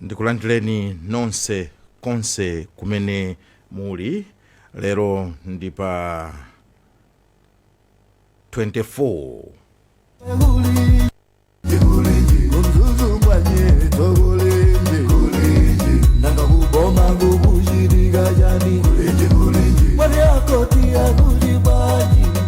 ndikulandireni nonse konse kumene muli lero ndi pa 24 Thank you.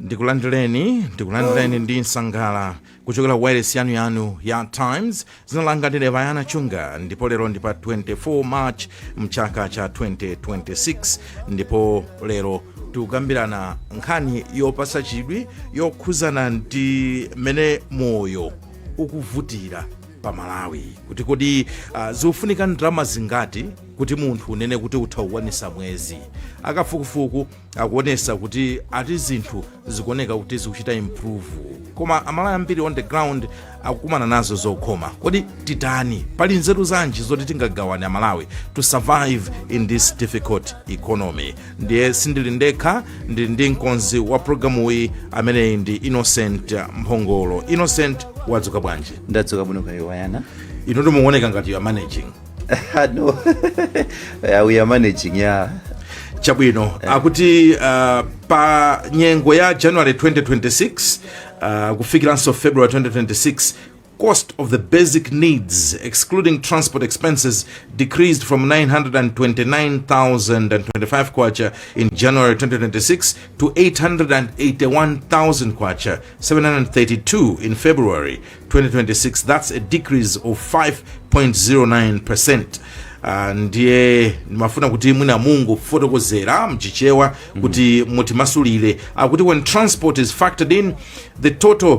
ndikulandireni ndikulandireni ndi nsangala kuchokera wireless yanu yanu ya times zina langa ndine Brian Chunga ndipo lero ndi pa 24 march mchaka cha 2026 ndipo lero tikukambirana nkhani yopasa chidwi yokhuzana ndi mmene moyo ukuvutira pa malawi kuti kodi uh, zikufunika ndalama zingati kuti munthu unene kuti utha kukwanisa mwezi akafukufuku akuonesa kuti ati zinthu zikuoneka kuti zikuchita improve koma amalawi ambiri on the ground akukumana nazo zokhoma kodi titani pali nzeru zanji zoti tingagawane amalawi to survive in this difficult economy ndiye sindili ndekha ndili ndi mkonzi wa programuyi ameneyi ndi innocent mphongolo innocent wadzuka bwanji ndadzuka bwino kaya Brian inu ndi mukuoneka ngati you are managing no yeah, we are managing yeah chabwino akuti uh, pa nyengo ya january 2026 uh, kufikiranso february 2026 cost of the basic needs, excluding transport expenses, decreased from 929,025 kwacha in January 2026 to 881,000 kwacha, 732 in February 2026. That's a decrease of 5.09%. Ah, ndiye ndimafuna kuti mwina mungofotokozera mchichewa kuti mutimasulire akuti when transport is factored in the total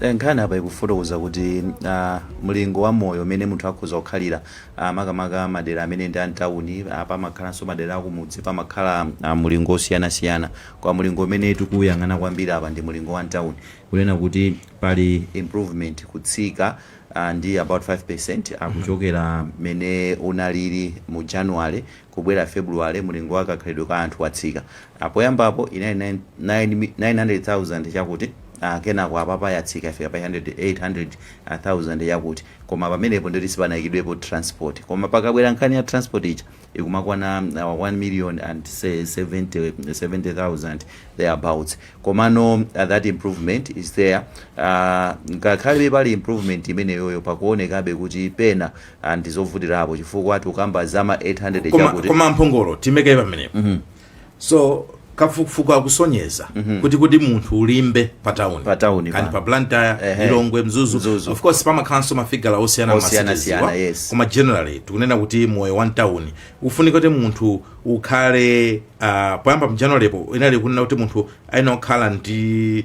Nkhani apa ikufotokoza kuti mlingo wa moyo umene munthu akhoza kukhalira makamaka madera amene ndi a m'tauni, pamakhalanso madera akumudzi, pamakhala mlingo wosiyanasiyana. Koma mlingo umene tikuwuyang'ana kwambiri apa ndi mlingo wa m'tauni. Kunena kuti pali improvement, kutsika ndi about 5% kuchokera mmene unalili mu January kubwera February, mlingo wa kakhalidwe ka anthu watsika. Apoyambapo inali 9, 9, 900,000 chakuti, a, kenako apapa yatsika yafika pa 800, 800,000 yakuti. Koma pamenepo ndiyoti sipanaikidwepo transport. Koma pakabwera nkhani ya transport ija ikumakwana a wa- 1 million and se- 70, 70,000 thereabouts. Komano a, that improvement is there. A, ngakhalebe pali improvement imeneyoyo pakuonekabe kuti pena Ah ndizovutilapo chifukwa tikamba zama 800 koma chakuti. koma mphongolo timekaye pamenepo so kafukufuku akusonyeza kuti kuti munthu ulimbe pa town Pa town kani pa blantyre Ehe. lilongwe mzuzu Mzuzu. of course pamakhalanso mafigala osiyana Osiyana masitizi osiyana, wa. yes. koma generally tikunena kuti moyo wa mtawuni ufunika kuti munthu ukhale ah, poyamba mjanuary po inali kunena kuti munthu ayenera kukhala ndi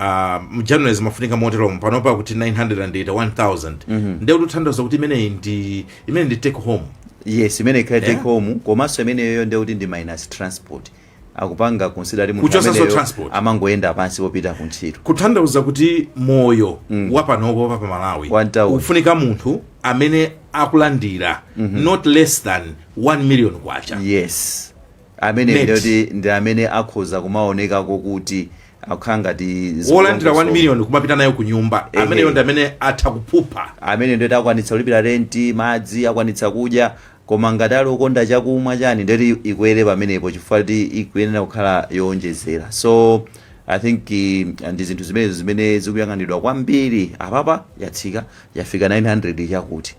uh, mjanuary zimafunika moteromo panopa kuti 981,000 ndiye kuti kuthandauza kuti imeneyi ndi imene ndi take home yes imene ikhale take Yeah. home komanso imeneyo ndiye kuti ndi minus transport akupanga consider munthu Kuchotsanso ameneyo transport. amangoyenda pansi popita ku ntchito kuthandauza kuti moyo mm. wapanopo pa malawi Wa mtauni. ufunika munthu amene akulandira mm-hmm. not less than 1 million kwacha yes ameneyo Net. ndiye kuti ndi amene akhoza kumaonekako kuti akukhala ngati wolandira 1 million kumapita nayo ku nyumba Ehe. ameneyo ndi amene atha kuphupha amene ndiye kuti akwanitsa kulipira renti madzi akwanitsa kudya koma ngati ali okonda chakumwa chani ndiye kuti ikwere pamenepo chifukwa kuti ikuyenera kukhala yowonjezera so i think eh, ndi zinthu zimenezo zimene zikuyang'anidwa kwambiri apapa yatsika yafika 900 chakuti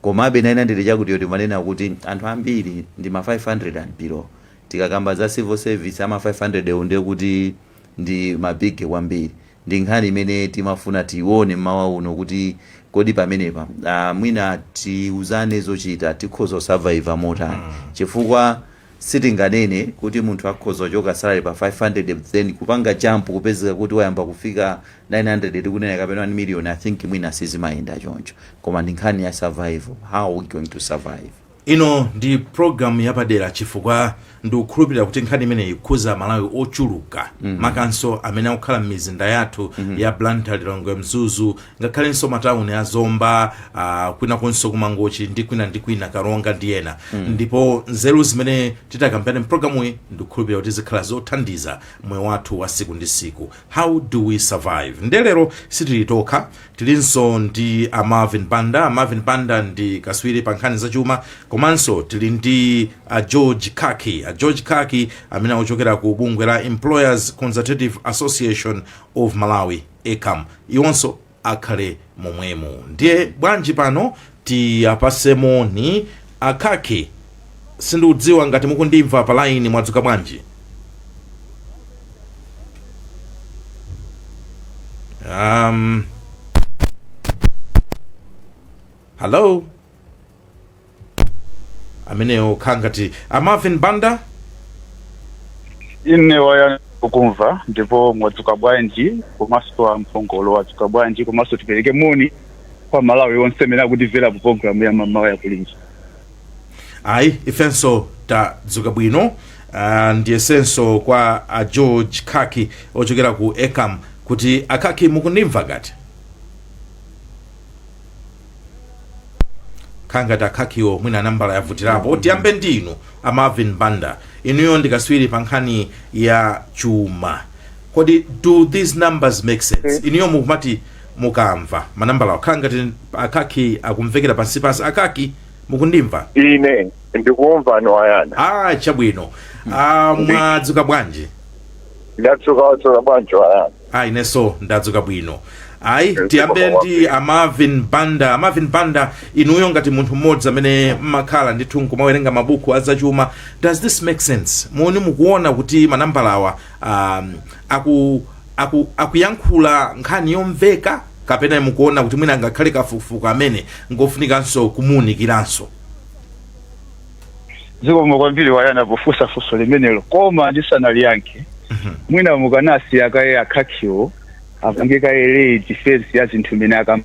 komabe 900 chakuti yoti timanena kuti anthu ambiri ndi ma 500 and below Tikakamba za civil service ama 500 wo ndiye kuti ndi ma biggy kwambiri. Ndi nkhani imene timafuna tione mmawa uno kuti kodi pamenepa mwina tiuzane zochita tikhoza ku survive motani chifukwa sitinganene kuti munthu akhoza kuchoka salary pa 500 but then kupanga jump kupezeka kuti wayamba kufika 900 tikunena kapena 1 million I think mwina sizimayenda choncho koma ndi nkhani ya survival how are we going to survive. Ino ndi program yapadera chifukwa ndikukhulupirira kuti nkhani imeneyi ikukhuza amalawi ochuluka makamakanso amene akukhala m'mizinda yathu ya blantyre lilongwe mzuzu ngakhalenso matauni a zomba ah, kwinakonso kumangochi ndi kwina ndi kwina karonga ndi ena ndipo nzeru zimene titakambirane mprogramuyi ndikukhulupirira kuti zikhala zothandiza moyo wathu wa siku ndi siku how do we survive ndiye lero sitili tokha tilinso ndi a marvin banda a marvin banda ndi kaswiri pa nkhani zachuma komanso tili ndi a george khaki a george khaki amene akuchokera ku bungwe la employers consultative association of malawi ecam iwonso akhale momwemo ndiye bwanji pano Tiapase moni a khaki sindikudziwa ngati mukundimva pa line mwadzuka bwanji um, hello ameneyo akhala ngati a marvin banda ine waya ukumva ndipo mwadzuka bwanji komanso amphongolo mwadzuka bwanji komanso tipereke moni kwa malawi onse amene akutimvera ku programu ya mamawa ya kulinji ayi ifenso tadzuka bwino uh, ndiye tsono kwa a george khaki ochokera ku ecam kuti a khaki mukundimva ngati khangati a khakiwo mwina nambala yavutirapo tiyambe ndinu a marvin banda inuyo ndi katswiri pa nkhani ya chuma kodi do these numbers make sense inuyo mukumati mukamva manambalawa khala ngati a khaki akumvekera pansipansi a khaki mukundimva ine ndikumvani wayana ah chabwino ah, mwadzuka bwanji ndadzuka mwadzuka bwanji wayana ah inenso ndadzuka bwino ayi tiyambe ndi a marvin banda a marvin banda inuyo ngati munthu mmodzi amene mmakhala ndithu nkumawerenga mabuku azachuma does this make sense muone mukuona kuti manambalawa um, aku, aku, akuyankhula nkhani yomveka kapena mukuona kuti mwina ngakhale kafukufuku ameneyu ngofunikanso kumuunikiranso zikomo kwambiri wayana pofunsa funso limenelo koma ndisanaliyankhe mwina mukanasiya kaye a khakiwo apange kaye late defense ya zinthu zimene akambe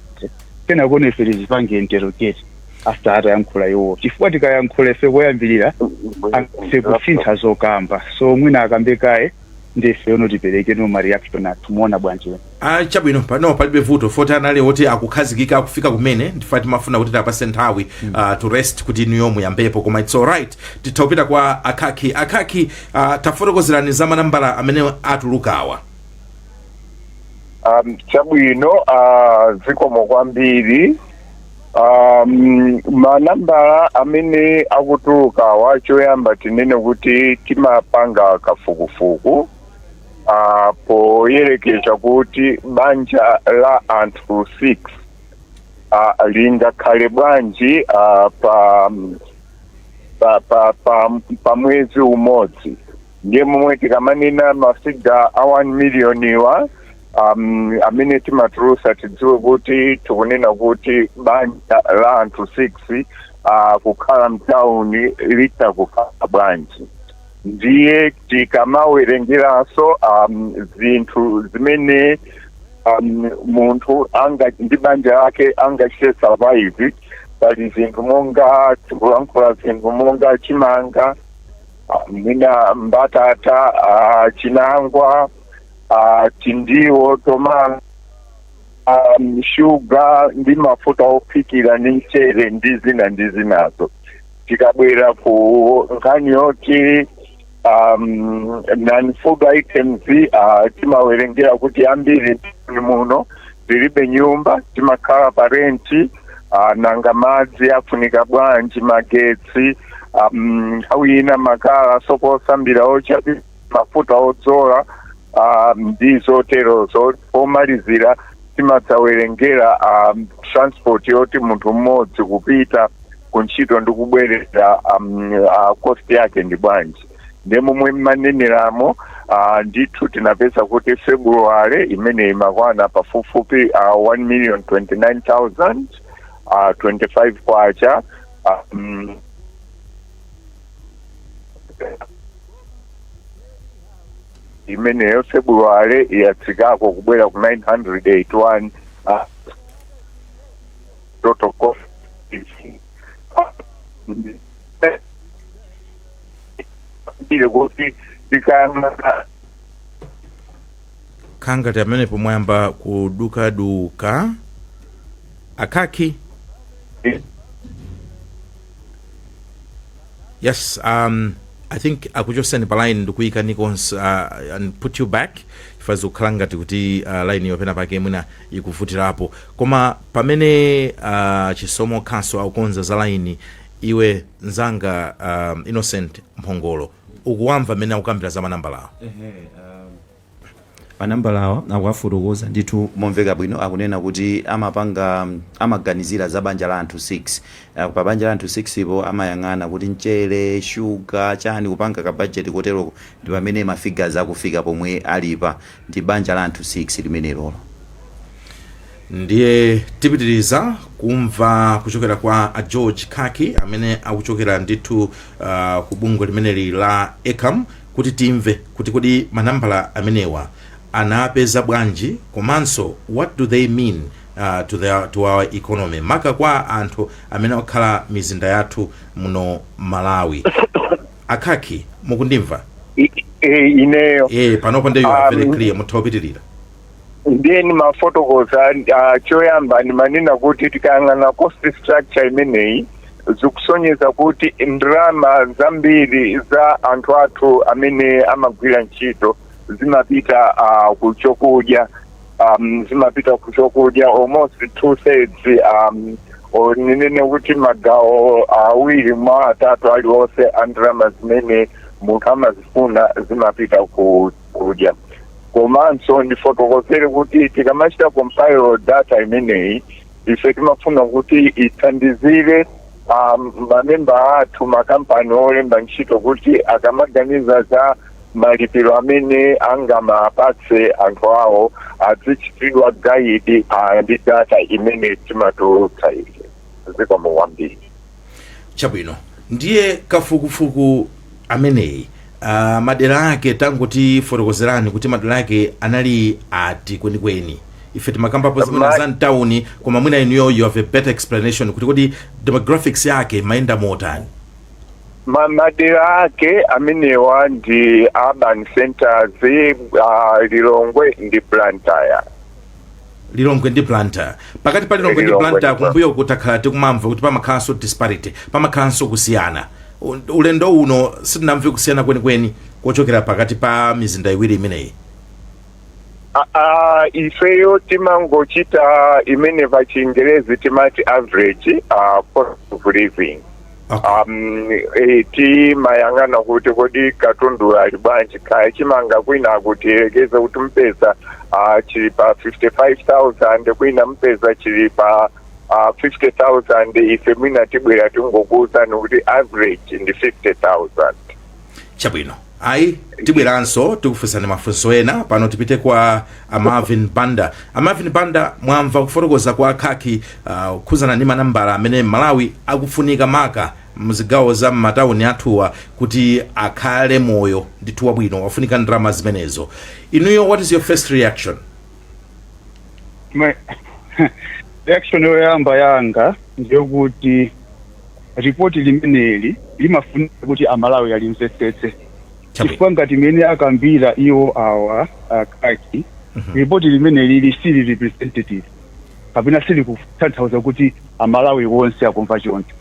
kenako no ife tizipange interrogate after atayankhula iwo chifukwa tikayankhula ife koyambirira atha kusintha zokamba so mwina akambe kaye ndiye ifeno tiperekeno ma reaction athu muona bwanji wena Ah, chabwino pano palibe vuto poti anali oti akukhazikika akufika kumene ndiye timafuna kuti tiwapatse nthawi ah, to rest kuti inuyo muyambepo koma its alright titha kupita kwa a khaki a khaki ah, tafotokozerani za manambala amene atulukawa um, chabwino uh, zikomo kwambiri Um, manambala amene akutulukawa choyamba tinene kuti timapanga kafukufuku uh, poyerekeza kuti banja la anthu 6 uh, lingakhale bwanji uh, pa, pa, pa, pa, pa mwezi umodzi ndiye momwe tikamanena ma figure a 1 miliyoniwa um, amene timatulutsa tidziwe kuti tikunena kuti banja la anthu 6 uh, kukhala mtauni litha kukhala bwanji ndiye tikamawerengeranso um, zinthu zimene um, munthu anga ndi banja lake angachite survive pali zinthu monga tikulankhula zinthu monga chimanga ah, mwina mbatata ah, chinangwa ah, tindiwo tomato um, shuga ndi mafuta ophikira ndi mchere ndi zina ndi zinazo tikabwera ku nkhani yoti um, non food items uh, timawerengera kuti ambiri muno tilibe nyumba timakhala pa renti uh, nanga madzi afunika bwanji magetsi um, nthawi ina makala sopo osambira ocha mafuta odzola um, ndi zoterozo pomalizira timadzawerengera um, transport yoti munthu mmodzi kupita ku ntchito ndi kubwerera um, uh, cost yake ndi bwanji nde momwe mmaneneramo uh, ndithu tinapeza kuti february imene imakwana pafupifupi uh, 1 million 29000 uh, 25 kwacha um, imeneyo february yatsikako kubwera ku 981 ah, total cost is ile kuti tikayang'ana kangati pamenepo mwayamba kudukaduka a Khaki yes um, i think akuchotseni pa line ndikuyikaniko uh, and put you back chifukwa zikukhala ngati kuti uh, line yo penapake mwina ikuvutirapo koma pamene uh, chisomo khaso akukonza za line iwe nzanga um, innocent mphongolo ukuwamva mmene akukambira za manambalawo Ehe, Manambalawa akuwafotokoza ndithu momveka bwino akunena kuti amapanga amaganizira za banja la anthu 6 uh, pa banja la anthu 6 po amayang'ana kuti mchere shuga chani kupanga ka budget koteroko ndi pamene ma figures akufika pomwe alipa ndi banja la anthu 6 limenelilo ndiye tipitiriza kumva kuchokera kwa a george khaki amene akuchokera ndithu uh, ku bungwe limeneli la ecam kuti timve kuti kodi manambala amenewa anapeza bwanji komanso what do they mean to the to our economy maka kwa anthu amene akukhala m'mizinda yathu muno malawi a Khaki mukundimva I- i- ineyo e panopo nde you are very um, clear mutha kupitiriza ndiye ndimafotokoza ah, choyamba ndimanena kuti tikayang'ana cost structure imeneyi zikusonyeza kuti ndalama zambiri za anthu athu amene amagwira ntchito zimapita ah, ku chokudya um, zimapita ku chokudya almost two thirds um, or ninene kuti magawo awiri mwa atatu aliwonse a ndalama zimene munthu amazifuna zimapita ku kudya komanso ndifotokozere kuti tikamachita compile data imeneyi ife timafuna kuti ithandizire um, mamemba athu makampani olemba ntchito kuti akamaganiza za malipiro amene angamapatse anthu awo azichitidwa guide uh, ndi data imene timatulutsa ife zikomo kwambiri chabwino ndiye kafukufuku ameneyi uh, madera ake tangotifotokozereni kuti madera ake anali ati kwenikweni ife timakambapo zimene Ma- za mtawuni koma mwina inuyo you have a better explanation kuti kodi demographics yake imayenda motani Ma- madera ake amenewa ndi urban centers uh, lilongwe ndi blantyre lilongwe ndi blantyre pakati pa lilongwe ndi blantyre kumbuyoku takhala tikumamva kuti pamakhalanso disparity pamakhalanso kusiyana U- ulendo uno sitinamve kusiyana kwenikweni kochokera pakati pa mizinda iwiri imeneyi Ah, ah, ifeyo timangochita imene pachingerezi timati average uh, cost of living Okay. Um, eh, timayang'ana kuti kodi katundu ali bwanji kaya chimanga kwina akuti tiyerekeze kuti mpeza ah, chili pa 55000 kwina mpeza chili pa ah, 50000 ife mwina tibwera tingokuwuzani kuti average ndi 50000 chabwino ayi tibweranso tikufunsani mafunso ena pano tipite kwa a marvin banda a marvin banda mwamva kufotokoza kwa a khaki uh, kukhuzana ndi manambala amene mmalawi akufunika maka mzigawo za m'matawuni athuwa kuti akhale moyo ndithu wabwino wafunika ndalama zimenezo inuyo what is your first reaction Mwe- reaction yoyamba yanga ndiyokuti ripoti limeneli limafunika kuti amalawi alimvetsetse chifukwa ngati mmene akambira iwo awa a khaki ripoti limeneli lili sili representative kapena sili kutanthauza kuti amalawi onse akumva choncho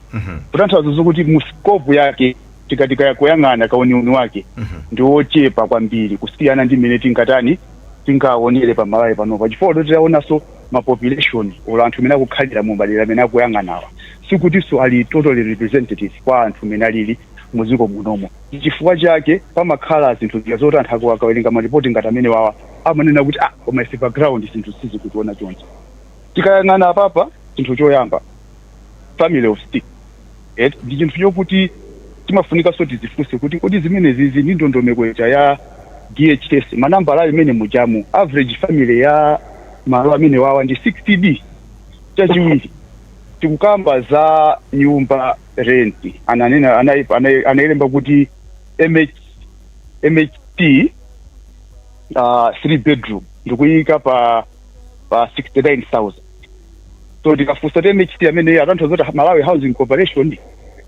kutanthauza zokuti mu scope yake tikati kakuyang'ana kauniuni wake ndi wochepa kwambiri kusiyana ndi mmene tingatani tingaonere pa malawi panopa chifukwa choti titaonanso ma population olo anthu amene akukhalira mu madera amene akuyang'anawa sikutinso ali totally representative kwa anthu amene alili mu dziko munomo chifukwa chake pamakhala zinthu zija zoti anthu akawerenga maripoti ngati amenewawa amanena kuti ah koma ife pa ground zinthu sizikutionekera choncho tikayang'ana apapa chinthu choyamba family of six eti ndi chinthu chokuti timafunikanso tizifunse kuti kodi zimenezizi ndi ndondomeko ija ya DHS manambala ali mmene mujamu average family ya malo amene wawa ndi 6 koma chachiwiri tikukamba za nyumba rent ananena anai- anai- analemba kuti MH, MHC uh, 3 bedroom ndikuyika pa pa 69000 so tikafunsa kuti mhc amene atanthauza kuti malawi housing corporation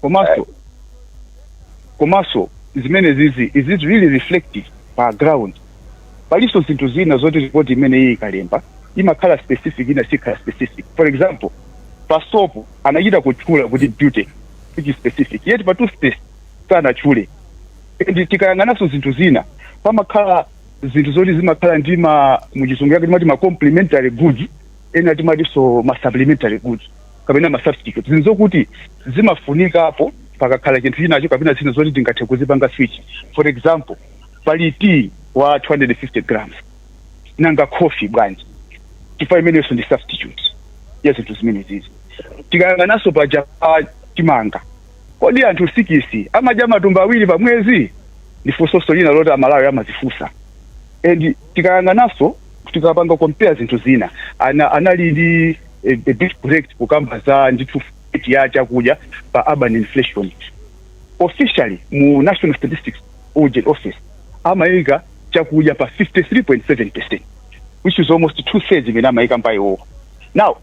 komanso komanso zimene zizi is it really reflective pa ground palinso zinthu zina zoti report imene iyi ikalemba imakhala specific ina siikhala specific for example pa soap anachita kutchula kuti beauty which is specific yet pa toothpaste sanatchule and tikayang'ananso zinthu zina pamakhala zinthu zoti zimakhala ndi ma muchizungu yake timati ma complementary goods ena timatinso ma supplementary goods kapena ma substitute zinthu zokuti zimafunikapo pakakhala chinthu chinacho kapena zina zoti tingathe kuzipanga switch for example pali tea wa 250 grams nanga coffee bwanji chifukwa imenenso ndi substitute ya zinthu zimenezizi tikayang'ananso paja pa chimanga Kodi anthu sikisi amadya matumba awiri pa mwezi? Ndi funsonso lina loti Amalawi amazifunsa. And tikayang'ananso, tikapanga compare zinthu zina, ana anali ndi a, a bit correct kukamba za ndithu weight ya chakudya pa urban inflation. Officially mu National Statistical Office amaika chakudya pa 53.7% which is almost two thirds imene amaika iwowo. Now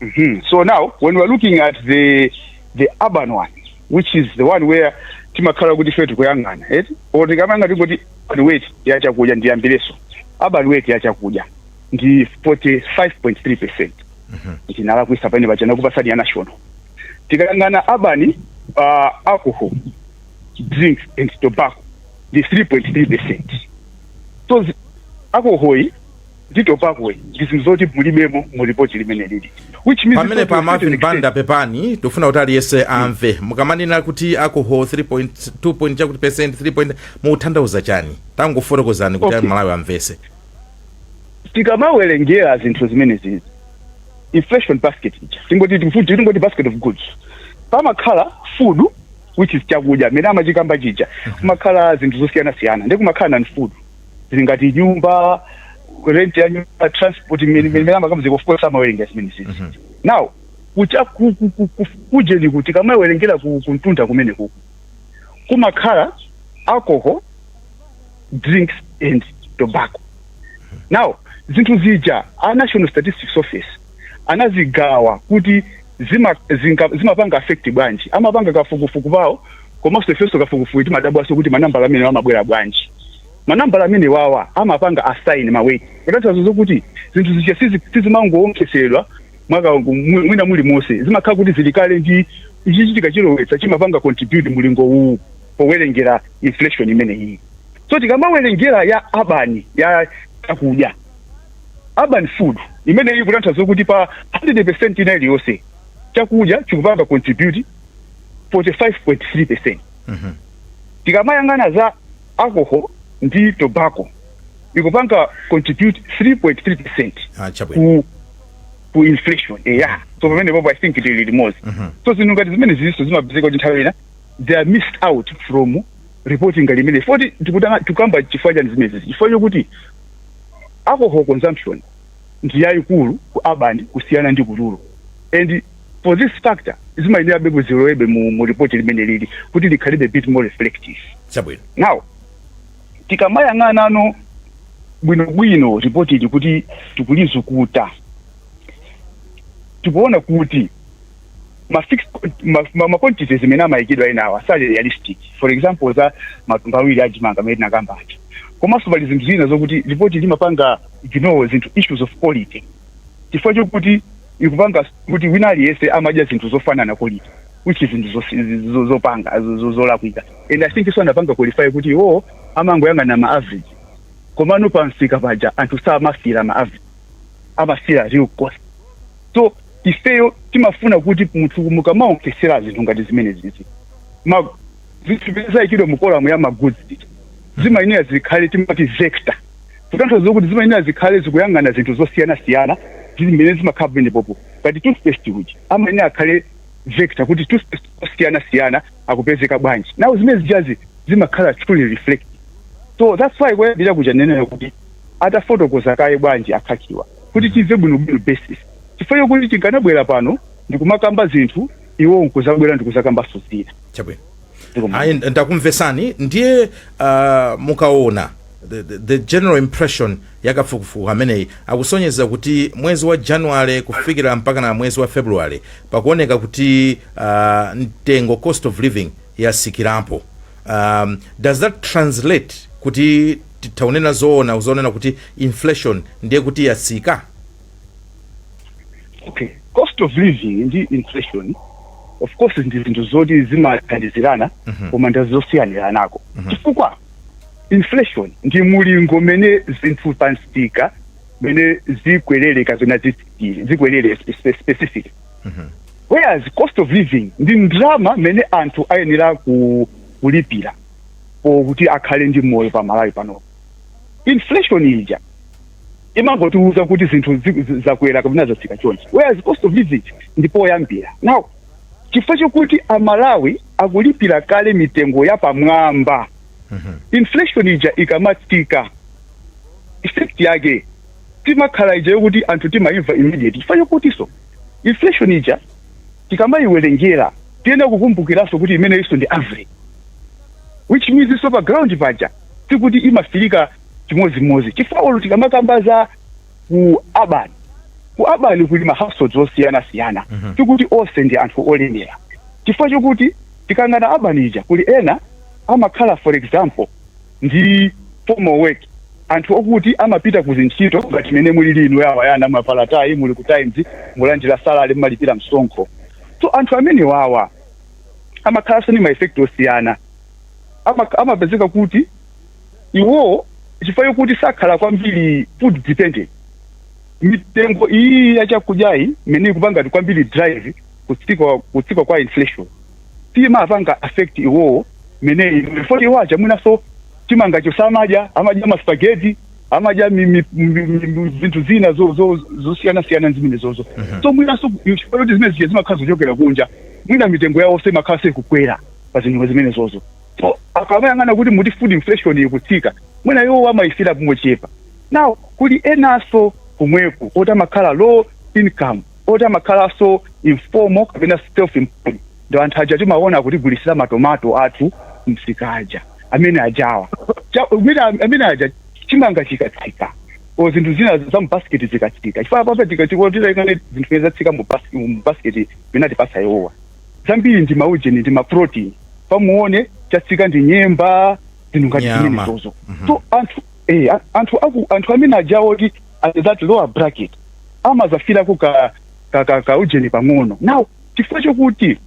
Mhm. So now when we are looking at the the urban one which is the one where timakhala kuti ife tikuyang'ana eti or tikayang'ana tingoti urban weight ya chakudya ndiyambireso urban weight ya chakudya ndi 45.3 percent ndinalakwitsa pamene paja ndinakupatsani ya national tikayang'ana urban uh, alcohol drinks and tobacco ndi 3.3 percent so zi- alcohol yi ndi tobacco ndi zinthu zoti mulibemo mu report limeneli which means pamene pa marvin banda pepani tikufuna kuti aliyense amve mukamanena kuti alcohol 3.2 point chakuti percent 3 point mukutanthauza chani tangofotokozani kuti okay. malawi amvese tikamawerengera zinthu zimenezi inflation basket ija tingoti tifuti tingoti basket of goods pamakhala food which is chakudya chimene amachikamba chija kumakhala zinthu zosiyana siyana ndi kumakhala non food zinthu ngati nyumba rent ya nyumba transport mmene amakambira of course amawerengera zimenezi Mhm. now kucha ku- ku- ku- ku- kujeni kuti kamawerengera ku- kumtunda kumene kuku kumakhala alcohol drinks and tobacco now zinthu zija a national statistics office anazigawa kuti zima, zinga, zimapanga affect bwanji amapanga kafukufuku pawo komanso ifenso kafukufuku timadabwanso kuti manambala amene amabwera bwanji manambala amene wawa amapanga assign ma weight kutanthauza zokuti zinthu zija sizi- sizimangowonkhesedwa mwaka mu- mwina muli monse zimakhala kuti zili kale ndi chichitika chilowetsa chimapanga contribute mulingo uwu powerengera inflation imeneyi so tikamawerengera ya urban ya chakudya urban food imeneyi ikutanthauza kuti pa 100% ina iliyonse chakudya chikupanga contribute 45.3% Mhm. tikamayang'ana za alcohol ndi tobacco ikupanga contribute 3.3% Ah, chabwino ku ku inflation eya so pamene popo i think tili limodzi Mhm. so zinthu ngati zimenezinso zimapezeka kuti nthawi ina they are missed out from reporting ngati imene foti tikutanga tikukamba chifukwa chani zimene zizi chifukwa chokuti alcohol consumption ndi yaikulu ku urban kusiyana ndi ku rural and for this factor zimayenerabe kuti zilowebe mu, mu report limeneli kuti likhalebe a bit more reflective chabwino now tikamayang'anano bwinobwino ripoti ili kuti tikulizukuta tikuona kuti ma fixed ma, ma, ma quantities zimene amayikidwa enawo sali realistic for example za matumba awiri a chimanga amene tinakamba aja komanso pali zinthu zina zokuti ripoti limapanga ignore zinthu issues of quality chifukwa chokuti ikupanga kuti wina aliyense amadya zinthu zofanana quality which is zinthu zosi- zo- zopanga zo- zo- zolakwika and i think iwonso anapanga qualify kuti iwo amangoyang'ana ma average komano pamsika paja anthu samafira ma average amafira real cost so ifeyo timafuna kuti munthu mukamaonkhetsera zinthu ngati zimenezizi ma zinthu zimene zayikidwa mu kolamu ya ma goods zija zimayenera zikhale timati vector kutanthauza kuti zimayenera zikhale zikuyang'ana zinthu zosiyanasiyana zimene zimakhala pamenepopo ngati toothpaste uja amayenera akhale vector kuti toothpaste osiyanasiyana akupezeka bwanji now zimene zijazi zimakhala truly reflective so that's why kuyambira kuja ndanenera kuti atafotokoza kaye bwanji a Kakhiwa kuti timve bwinobwino basis chifukwa chokuti tikanabwera pano ndikumakamba zinthu iwowo nkuzabwera ndikuzakambanso zina chabwino Zikomo. ayi nd- ndakumvesani ndiye uh, mukaona the, the, the general impression yakafukufuku ameneyi akusonyeza kuti mwezi wa january kufikira mpaka na mwezi wa february pakuoneka kuti uh, mtengo cost of living yatsikirapo um, does that translate kuti titha kunena zoona zonena kuti inflation ndiye kuti yatsika? Okay. Cost of living ndi inflation of course ndi zinthu zoti zimathandizirana koma ndi zosiyaniranako chifukwa inflation ndi mulingo umene zinthu pa msika mmene zikwerere kapena zitsikire zikwerere spe- specific whereas cost of living ndi ndalama imene anthu ayenera ku- kulipira or kuti akhale ndi moyo pa Malawi pano inflation ija imangotiuza kuti zinthu zi- zi- zakwera kapena zatsika chonchi whereas cost of living ndi poyambira now chifukwa chokuti Amalawi akulipira kale mitengo yapamwamba inflation ija ikamatsika effect yake timakhala ija yokuti anthu timaimva immediate chifukwa chokutinso inflation ija tikamaiwelengera tiyenera kukumbukiranso kuti imeneyinso ndi average which means so pa ground paja sikuti imafilika chimodzimodzi chifukwa olo tikamakamba za ku urban ku urban kuli mahouseholds osiyanasiyana sikuti onse ndi anthu olemera chifukwa chokuti tikayang'ana urban ija kuli ena amakhala for example ndi formal work anthu okuti amapita kuzintchito ngati mene mulili inu awa yana mwavala tayi muli ku Times mulandira salary mumalipira msonkho so anthu amene wawa amakhalanso ndi ma effect osiyana Ama- amapezeka kuti iwo chifukwa chokuti sakhala kwambiri food dependent mitengo iyi ya chakudyayi imene ikupanga ngati kwambiri drive kutsika kutsika kwa inflation siimapanga affect iwowo mene inuyo poti iwo aja mwinaso chimangacho samadya amadya maspaghetti amadya mi- mi- mi- mi- mi- zinthu zina zo- zo- zosiyanasiyana zimene zozo so mwinaso chifukwa choti zimene zija zimakhala zochokera kunja mwina mitengo yawoso imakhalaso ikukwera pa zinthu zimene zozo so akamayang'ana kuti muti food inflation ikutsika mwina iwo amayifila mochepa now kuli enaso kumweko oti amakhala low income oti amakhalanso informal kapena self employed ndi anthu aja timaona kutigulitsira matomato athu kumsika aja amene ajawa Cha- amene amene aja chimanga chikatsika o zinthu zina za mubasiketi zikatsika chifukwa apapa tikati tikaone zinthu zimene zatsika mu bas- mu basiketi imene atipasa iwowa zambiri ndi maujeni ndi maprotein pompaone chatsika ndi nyemba zinthu ngati Nyama. zimenezozo so anthu eh, a- anthu aku anthu amene ajawa kuti at that lower bracket amadzafilako ka, ka, ka, ka ujeni pang'ono now chifukwa chokuti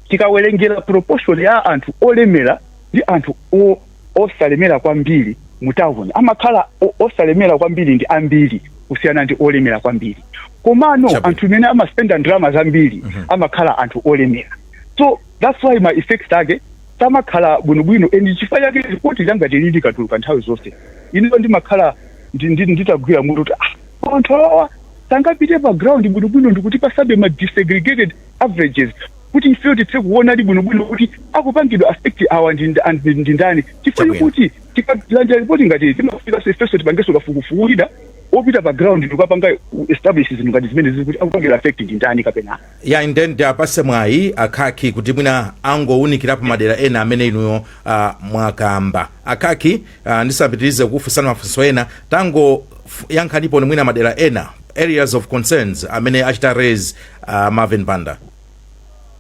tikawerengera proportion ya anthu olemera ndi anthu o- osalemera kwambiri mu town amakhala o- osalemera kwambiri ndi ambiri kusiyana ndi olemera kwambiri komano Chabwino. anthu amene amaspenda ndalama zambiri amakhala anthu olemera so that's why ma effects ake samakhala bwinobwino and chifukwa chake lipoti ngati ili likatuluka nthawi zonse ineyo ndimakhala ndi- ndi- nditagwira mutu kuti ah, koma anthu awawa sangapite pa ground bwinobwino ndikuti kutipatsabe ma disaggregated averages kuti ifeyo tithe kuonadi bwinobwino kuti akupangidwa affect awa ndi nda- and ndi ndani chifukwa chokuti tikalandira lipoti ngati ili, timafunika ifenso tipangenso kafukufuku wina opita pa ground n'kukapanga establish zinthu ngati zimenezi kuti akupangidwa affect ndi ndani kapena ya and then tiwapatse mwayi a Khaki kuti mwina angowunikirapo madera ena amene inuyo uh, mwakamba a Khaki uh, ndisanapitirize kukufunsani mafunso ena tangoyankhaniponi mwina madera ena areas of concerns amene achita raise uh, Marvin Banda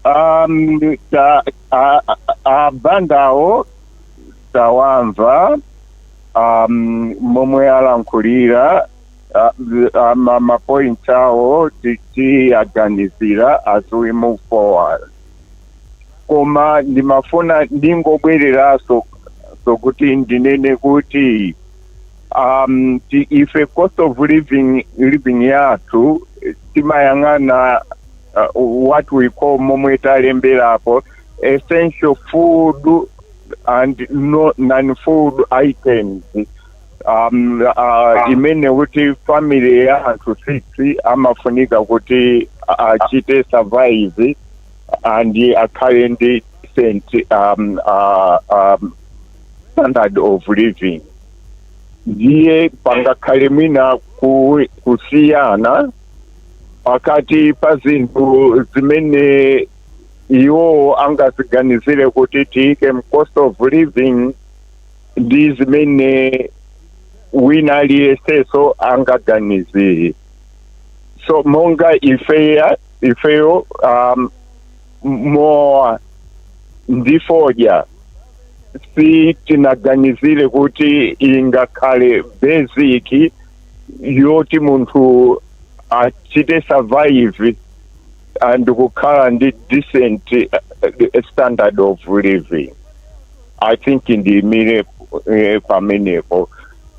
Um, ta, a, a, a Bandawo tawamva um, momwe alankhulira ma points awo tiwaganizira as we move forward koma ndimafuna ndingobwereranso kuti ndinene kuti um, ti, ife cost of living, living yathu timayang'ana uh, what we call momwe talemberapo essential food and no, non-food items um, uh, imene kuti family ya anthu six amafunika kuti achite survive and akhale ndi decent um, uh, um, standard of living ndiye pangakhale mwina ku, kusiyana pakati pa zinthu zimene iwo angaziganizire kuti tiyike mu cost of living ndi zimene wina aliyenseso angaganizire so monga ife ifeyo um, mowa ndi fodya sitinaganizire kuti ingakhale basic yoti munthu achite survive and kukhala ndi decent uh, standard of living i think ndiimire eh, pamenepo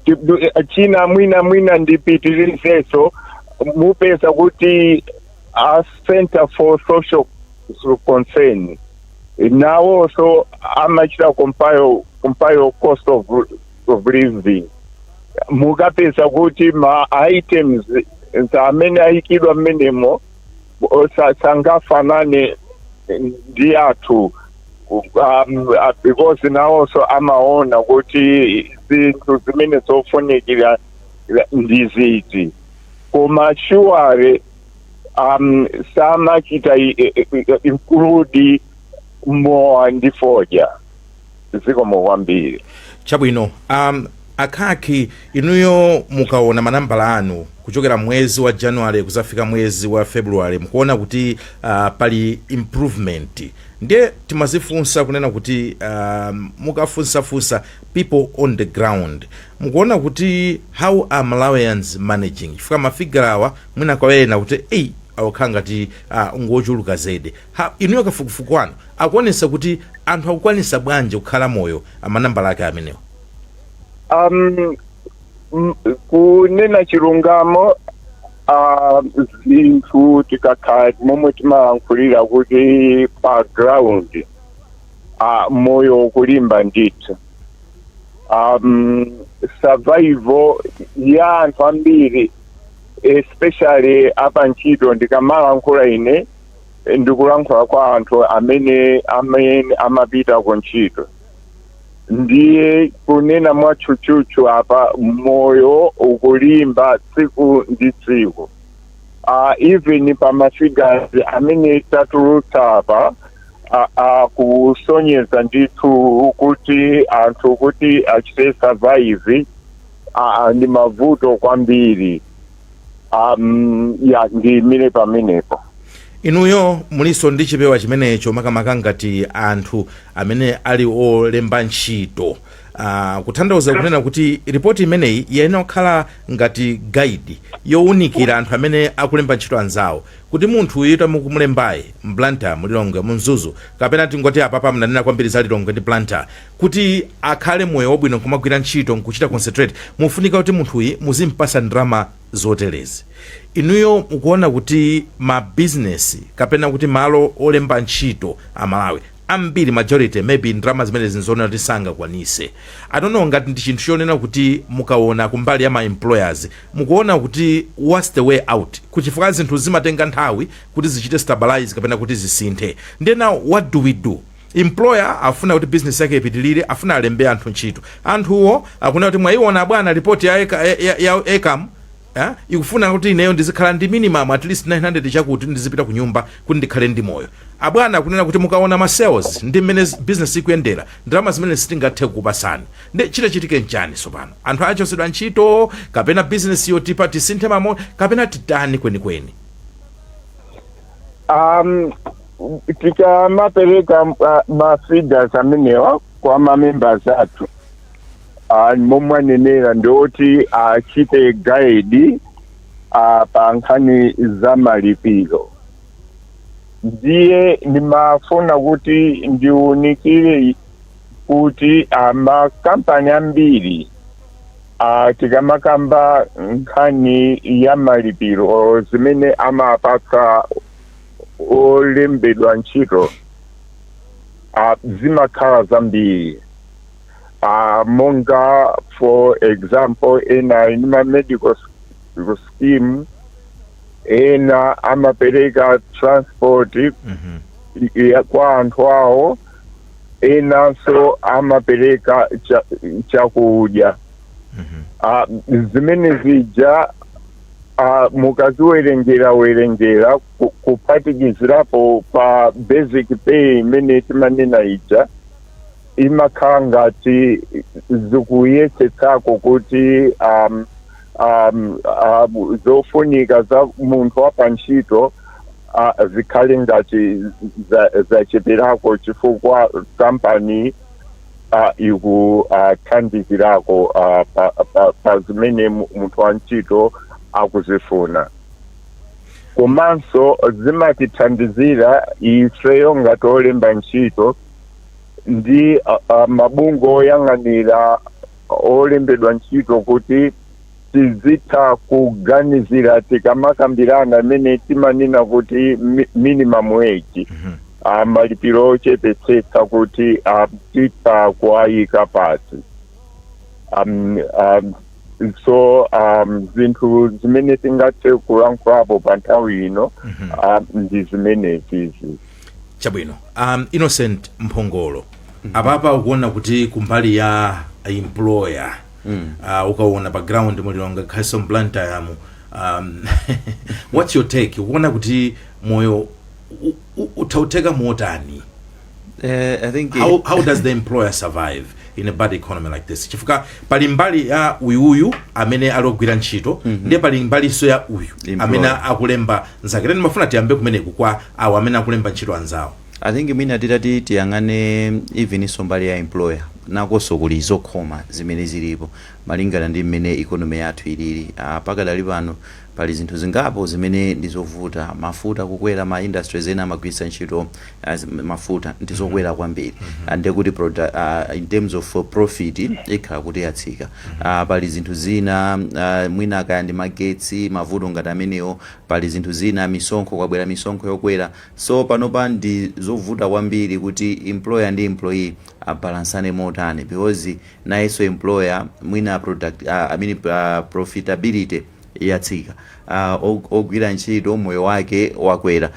Ti- du- eh, china mwina mwina ndipitirizenso mupeza kuti a Centre for Social Concern nawonso amachita compile compile cost of, of living mukapeza kuti ma items amene ayikidwa mmenemo o- sa- sangafanane ndi athu um, uh, because nawonso amaona kuti zinthu zimene zofunikira ndi ziti koma sure um, samachita i- i- i- include mowa ndi fodya zikomo kwambiri chabwino um, A Khaki inuyo mukaona ma nambala anu kuchokera mwezi wa January kuzafika mwezi wa February mkuona kuti pali improvement ndiye timazifunsa kunena kuti mukafunsa funsa people on the ground mukuona kuti how are Malawians managing chifukwa ma figure awa mwina kwa ena kuti ei akukhala ngati ngochuluka zedi ha inuyo kafukufuku wanu akuonesa kuti anthu akukwanisa bwanji kukhala moyo manambala ake amenewo. Um, m- kunena chilungamo ah, zinthu tikakhala momwe timalankhulira kuti pa ground ah, moyo ukulimba ndithu um, survival ya anthu ambiri especially apa ntchito ndikamalankhula ine ndikulankhula kwa anthu amene amene amapita ku ntchito ndiye kunena mwatchutchutchu apa moyo ukulimba tsiku ndi tsiku uh, even pa ma figures amene tatulutsa apa akusonyeza ndithu kuti anthu kuti achite survive uh, ndi mavuto kwambiri um, ya ndiyimire pamenepo inuyo mulinso ndi chipewa chimenecho makamaka ngati anthu amene ali olemba ntchito uh, kuthandauza kunena kuti ripoti imeneyi yayenera kukhala ngati guide yowunikira anthu amene akulemba ntchito anzawo kuti munthu uyu amene mukumulembayu m'Blantyre mu Lilongwe mu Mzuzu kapena tingoti apapa mnanena kwambiri za Lilongwe ndi Blantyre kuti akhale moyo wabwino nkumagwira ntchito nkuchita concentrate mufunika kuti munthuyi muzimpasa ndalama zoterezi inuyo mukuona kuti ma business kapena kuti malo olemba ntchito amalawi ambiri majority maybe ndalama zimenezi nzoona kuti sangakwanise I don't know ngati ndi chinthu chonena kuti mukaona kumbali ya ma employers mukuona kuti what's the way out kuchifukwa zinthu zimatenga nthawi kuti zichite stabilize kapena kuti zisinthe then now what do we do Employer afuna kuti business yake ipitilire afuna alembe anthu ntchito. Anthuwo akunena kuti mwaiona abwana report ya ecam, ya, ya, ya ecam eh, ikufuna kuti ineyo ndizikhala ndi minimum at least 900 chakuti kuti ndizipita ku nyumba kuti ndikhale ndi moyo. Abwana akunena kuti mukaona ma sales ndi mmene z- business ikuyendera ndalama zimene sitingathe kukupasani. Ndi chitachitike nchani sopano? Anthu achosedwa ntchito kapena business yo tipa tisinthe model kapena titani kwenikweni? Um, tikamapereka ah, ma figures amenewa kwa mamembers athu ah, momwe anenera ndi oti achite guide ah, pa nkhani za malipiro ndiye ndimafuna kuti ndiunikire kuti ah, makampani ambiri ah, tikamakamba nkhani ya malipiro zimene amapatsa olembedwa ntchito uh, zimakhala zambiri uh, monga for example ena ndi ma medical s- scheme ena amapereka transport Mhm. ya kwa anthu awo enanso amapereka cha- chakudya Mhm. Ah, zimene zija Ah, mukaziwerengera werengera ku- kuphatikizirapo pa basic pay imene timanena ija imakhala ngati zikuyesetsako kuti um, um, um, zofunika za munthu wa pantchito ah, zikhale ngati za- zacheperako chifukwa kampani ah, ikuthandizirako ah, pa, pa, pa zimene mu- munthu wa ntchito akuzifuna komanso zimatithandizira ifeyo ngati olemba ntchito ndi ah, ah, mabungwe oyang'anira olembedwa ntchito kuti tizitha kuganizira tikamakambirana imene timanena kuti mi- minimum wage Mhm. ah, malipiro ochepetsetsa kuti ah, titha kuwayika pati um, um, so um, zinthu zimene tingathe kulankhulapo pa nthawi ino Mhm. ah, ndi zimenezi chabwino um, innocent mphongolo apapa ukuwona kuti kumbali ya employer mm. uh, ukaona pa ground mu Lilongwe, makamakanso mu Blantyre mu um, what's your take ukuona kuti moyo u- u- ukutheka motani Eh, i think how, how does the employer survive in a bad economy like this chifukwa pali mbali ya uyuyu amene ali ogwira ntchito mm -hmm. ndiye pali mbalinso ya uyu Employer. amene akulemba nzake then timafuna tiyambe kumeneku kwa awo amene akulemba ntchito anzawo I think mwina titati tiyang'ane eveninso mbali ya employer nakonso kuli zokhoma zimene zilipo malingana ndi mmene economy yathu ilili aah pakadali pano pali zinthu zingapo zimene ndi zovuta mafuta kukwera ma industries ena amagwiritsa ntchito mafuta ndi zokwera kwambiri ndiye kuti produc aah in terms of profit ikhala kuti yatsika aah pali zinthu zina aah mwina kaya ndi magetsi mavuto ngati amenewo pali zinthu zina misonkho kwabwera misonkho yokwera So panopa ndi zovuta kwambiri kuti employer ndi employee abalansane motani because nayenso employer mwina product I mean profitability yatsika ogwira ntchito moyo wake wakwera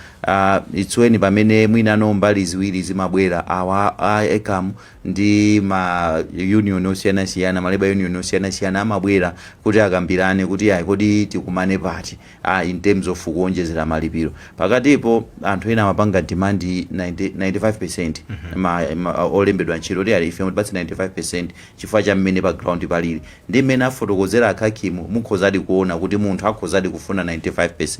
it's when pamene mwina mbali ziwiri zimabwera awa a ecam ndi ma union osiyanasiyana ma labour union osiyanasiyana amabwera kuti akambirane kuti ayi kodi tikumane pati a in terms of kuwonjezera malipiro pakatipo anthu ena amapanga demand 90 95% ma, ma, olembedwa ntchito kuti ayi ife mutipatse 95% chifukwa cha mmene pa ground palili ndi mmene afotokozera a Khaki mu mukhozadi kuona kuti munthu akhozadi kufuna 95%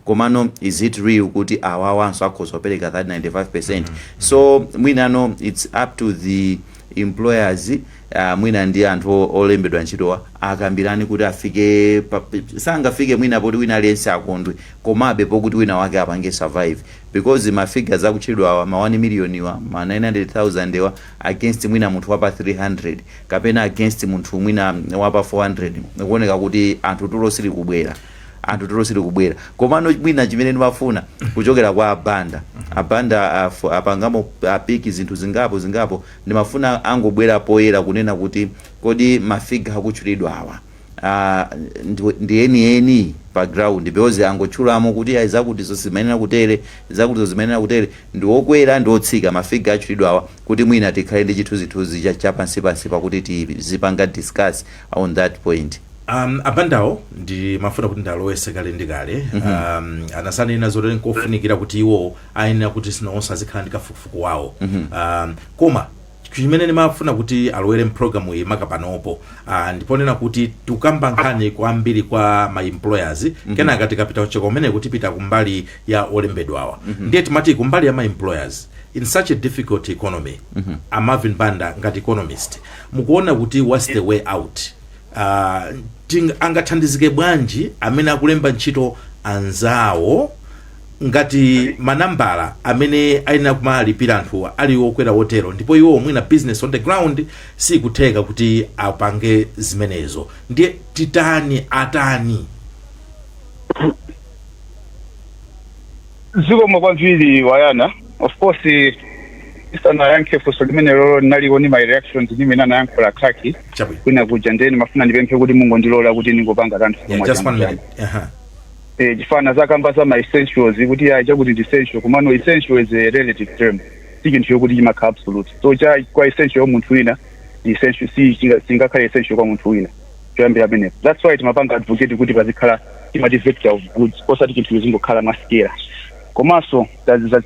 komano is it real kuti awawanso akhoza kupereka that 95% so mwinano it's up to the employers Aaa mwina ndi anthu olembedwa ntchitowa akambirane kuti afike pa, sangafike mwina poti wina aliyense akondwe komabe pokuti wina wake apange survive because ma figures akutchedwawa ma 1 million wa ma 900,000 wa against mwina munthu wapa 300 kapena against munthu mwina wapa 400 kukuoneka kuti anthu tulo silikubwera anthu tulo silikubwera komano mwina chimene ndimafuna kuchokera kwa a Banda a Banda af- apangamo apiki zinthu zingapo zingapo Ndimafuna angobwera poyera kunena kuti kodi ma figure akutchulidwawa aah ndi enieni pa ground because angotchulamo kuti ayi zakutizo sizimayenera kutere, zakutizo zimayenera kutere, ndi okwera ndi otsika ma figure atchulidwawa kuti mwina tikhale ndi chithunzithunzi cha cha pansipansipa kuti tizipanga discuss on that point. Aah abandawo ndimafuna kuti ndialowetse kale ndi kale aah anadzanena zoti nkofunikira kuti iwowo ayenera kuti nawonso azikhala ndi kafukufuku wawo um, koma chimene ndimafuna kuti alowere mpulogalamu iyi maka panopo uh, ndi ponena kuti tikukamba nkhani kwambiri kwa ma employers kenaka tikapita kucheka kumeneko tipita kumbali ya olembedwawa ndiye timati kumbali ya ma employers in such a difficult economy a Marvin Banda ngati economist mukuona kuti what's the way out uh, ting, angathandizike bwanji amene akulemba ntchito anzawo Ngati manambala amene ayenera kumalipira anthuwa ali okwera otero ndipo iwowo mwina business on the ground siikutheka kuti apange zimenezo ndiye titani, atani? Zikomo kwambiri a Yona, of course ndisanayankhe funso limenelolo ndinaliko ndi my reactions ndi mmene anayankhula a Khaki Chabwino. kwinakuja ndiye ndimafuna ndipemphe kuti mungondilola kuti ndingopanga kanthu Yeah, kamodzi just one minute. kamodzi. Aha. eh, chifukwa zakamba za ma essentials kuti ya chakuti ndi essential komano essential is a relative term si chinthu chokuti chimakhala absolute so cha kwa essential ya munthu wina ndi essential si chinga- singakhale essential kwa munthu wina choyambira pamenepo that's why timapanga advocate kuti pazikhala timati vector of goods osati chinthu chizingokhala masikera komanso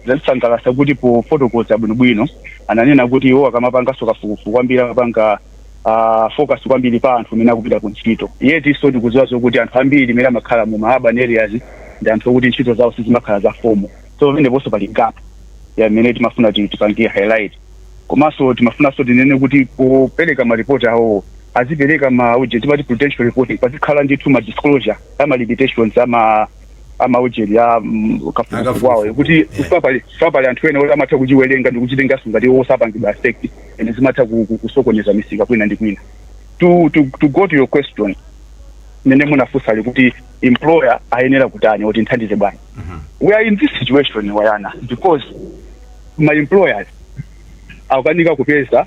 zatisangalasa kuti pofotokoza bwinobwino ananena kuti iwo akamapanganso kafukufuku kwambiri amapanga uh, focus kwambiri pa anthu amene akupita ku ntchito yet tonse tikuziwa zokuti anthu ambiri amene amakhala mu ma urban areas ndi anthu okuti ntchito zawo sizimakhala za fomo so pameneponso pali gap imene timafuna ti- tipange highlight komanso timafunanso tinene kuti popereka maripoti awo azipereka ma uje timati prudential reporting pazikhala ndithu ma disclosure ama limitations ama amaujeni a mm, kafukufuku wawo Akafukufuku, kuti yeah. sapali sapali anthu ena oti amatha kuchiwerenga ndi kuchitenganso ngati iwo sapangidwa affect and zimatha ku- ku- kusokoneza misika kwina ndi kwina to, to, to go to your question mene munafunsa ali kuti employer ayenera kutani kuti mthandize bwana we are in this situation wayani because ma employers akukanika kupeza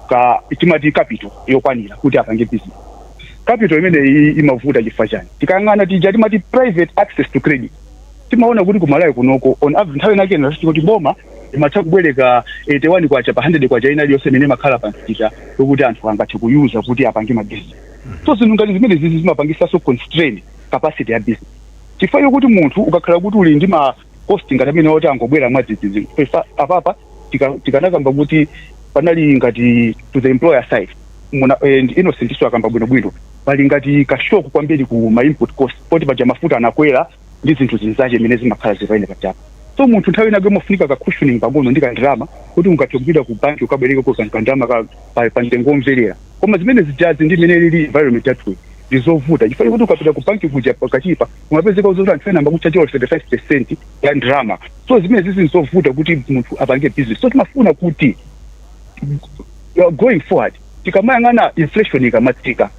ka timati capital yokwanira kuti apange business capital imene imavuta chifukwa chani tikayang'ana tija timati private access to credit timaona kuti ku Malawi kunoko on average nthawi inake inachiti kuti boma imatha kubwereka 81 kwacha pa 100 kwacha ina iliyonse imene imakhala pa msika yokuti anthu angathe kuyuza kuti apange mabizinesi so zinthu ngati zimene zizi zimapangisanso constrain capacity ya business chifukwa yokuti munthu ukakhala kuti uli ndi ma cost ngati amene oti angobwera mwadzidzidzi pesa apapa tika- tikanakamba kuti panali ngati to the employer side muna and innocent iwonso akamba bwinobwino pali ngati kashoku kwambiri ku ma input cost poti paja mafuta anakwera ndi zinthu zinzache imene zimakhala zipayene pachapa so munthu nthawi inake umafunika ka cushioning pang'ono ndi kandalama kuti ungathe kupita ku banki ukabwereke ko kan- kandalama ka- pa- pa mtengo womverera koma zimene zijazi ndi imene ili environment yathu ndi zovuta chifukwa kuti ukapita ku banki kuja pakadali pa kumapezeka zoti anthu ena amakutchaja 35 percent ya ndalama so zimene zizi nzovuta kuti munthu apange business so timafuna kuti uh, going forward tikamayang'ana inflation ikamatsika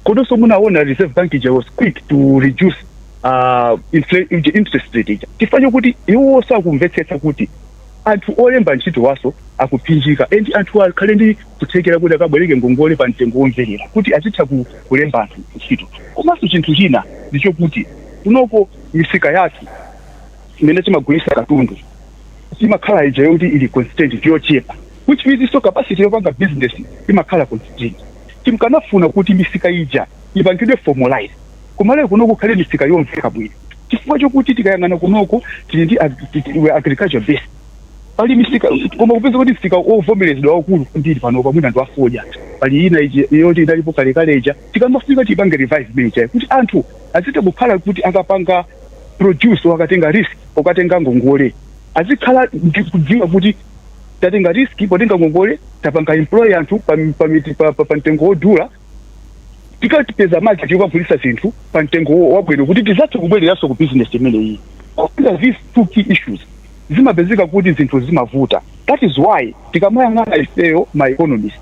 komanso munaona reserve bank ija was quick to reduce uh, infl- ija- interest rate ija chifukwa chokuti iwonso akumvetsetsa kuti anthu olemba ntchito iwonso akupsinjika and anthu akhale ndi kuthekera kuti akabwereke ngongole pa mtengo womverera kuti azitha ku, kulemba anthu ntchito komanso chinthu china ndi chokuti kunoko misika yathu imene timagulisa katundu imakhala ija yoti ili constant ndi yochepa which means so capacity yopanga business imakhala constant timkanafuna kuti misika ija ipangidwe formalize ku Malawi kunoko kukhale misika yomveka bwino chifukwa chokuti tikayang'ana kunoko tili ndi ag- tili- we are agriculture based pali misika koma kupeza kuti msika wovomerezedwa waukulu kwambiri panopa mwina ndi wafodya pali ina iji- yoti inalipo kalekale ija tikamafika tipange revive imenejayo kuti anthu azitha kukhala kuti akapanga produce wakatenga risk okatenga ngongole azikhala ndi kudziwa kuti tatenga risk potenga ngongole tapanga employ anthu pa, pa, miti- pa, pa, pa mtengo wodula tikapeze market yokagulisa zinthu pa mtengo wo- wabwino kuti tizathe kubwereranso ku business imeneyi These are these two key issues zimapezeka kuti zinthu zimavuta that is why tikamayang'ana ifeyo ma economist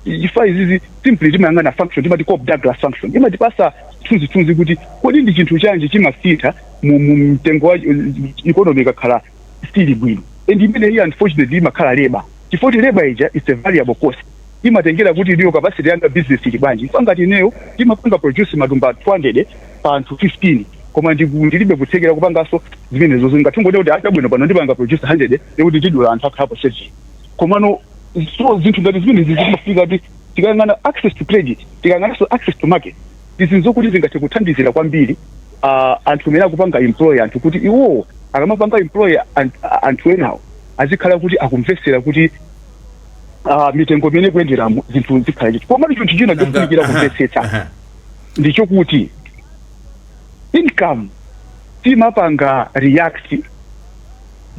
chifukwa izizi simply timayang'ana function timati Cobb Douglas function imatipasa chithunzithunzi kuti kodi ndi chinthu chanji chimasintha mu mu mtengo wa economy ikakhala isili bwino and imene iyi unfortunately imakhala labor chifukwa chakuti labor ija is a variable cost imatengera kuti inuyo capacity yanu ya business ili bwanji chifukwa ngati ineyo ndimapanga produce matumba 200 pa anthu 15 koma ndiku- ndilibe kuthekera kupanganso zimenezozo ngati ungoti kuti ah chabwino pano ndipanga produce 100 ndiye kuti tidula anthu akhalapo seven komano so zinthu ngati zimenezi zimafika kuti tikayang'ana access to credit tikayang'ananso access to market izi nzokuti zingathe kuthandizira kwambiri ah, anthu amene akupanga employ anthu kuti iwowo akamapanga employ an- anthu enawo azikhala kuti akumvetsetsa kuti ah, mitengo imene ikuyenderamo zinthu zikhala chiti komatu chinthu china Nanga- chofunikira aha, kumvetsetsa aha. ndi chokuti income simapanga react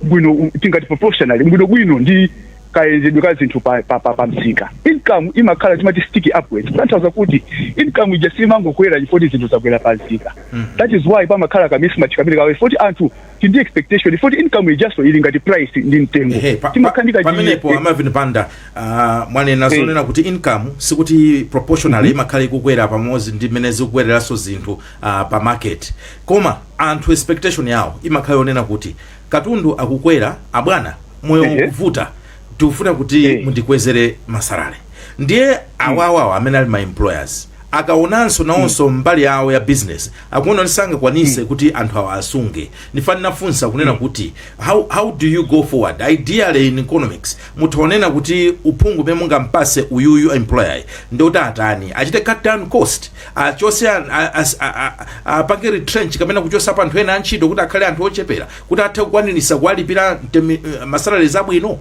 bwino tingati proportionally bwino bwino ndi kayendedwe ka zinthu pa, pa, pa, pa msika income imakhala timati sticky upwards kutanthauza kuti income ija simangokwera chifoti zinthu zakwera pa msika that is why pamakhala ka mismatch kamene kawe foti anthu tili ndi expectation yoti income ijaso ili ngati price ndi mtengo Ehe, pa- pa- timakhala ndi kachi- pamenepo eh, a Marvin Banda ah, mwanena Eh. zonena kuti income sikuti proportionally imakhala ikukwera pamodzi ndi mmene zikukwereranso zinthu ah, pa market koma anthu expectation yawo imakhala yonena kuti katundu akukwera abwana moyo Ehe. ukuvuta tikufuna kuti Eh. mundikwezere ma salary ndiye awawawa amene ali ma employers akaonanso nawonso mbali yawo ya business akuona kuti sangakwanise kuti anthu awa asunge ndi chifukwa ndinafunsa kunena kuti how, how do you go forward ideally in economics mutha kunena kuti uphungu umene mungampase uyuyu employer ndi woti atani achite cut down cost achose an- a- as- a- a- apange retrench kapena kuchosapo anthu ena antchito kuti akhale anthu ochepera kuti athe kukwanirisa kuwalipira mtemi- ma salaries abwino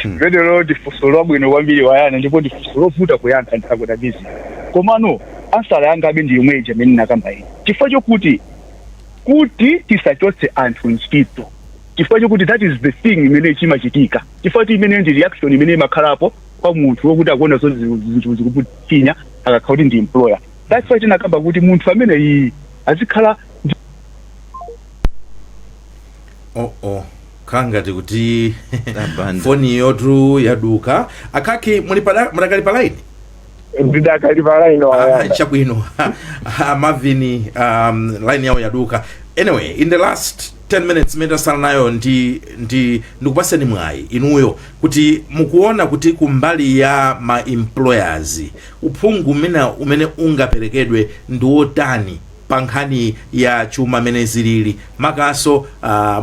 limenelo ndi funso labwino kwambiri wayana ndipo ndi funso lovuta kuyankha ndakudabisa komano answer yangabe ndi yomwe ija imene ndinakamba ine chifukwa chokuti kuti tisachotse anthu ntchito chifukwa chokuti that is the thing imene chimachitika chifukwa chakuti imene ndi reaction imene imakhalapo kwa munthu wokuti akuona zoti zinthu zikumupinya akakhala kuti ndi employer That's why tinakamba kuti munthu ameneyi azikhala ndi oh oh kangati kuti Abanda. foni yawotu yaduka a Kaki muli pada- mudakali pa line ndidakali pa line Ah, chabwino a Marvin um, line yawo yaduka anyway in the last 10 minutes imene tatsala nayo ndi ndi ndikupaseni mwayi inuyo kuti mukuona kuti kumbali ya ma employers Uphungu wina umene ungaperekedwe ndi wotani pa nkhani ya chuma mmene zilili makamakanso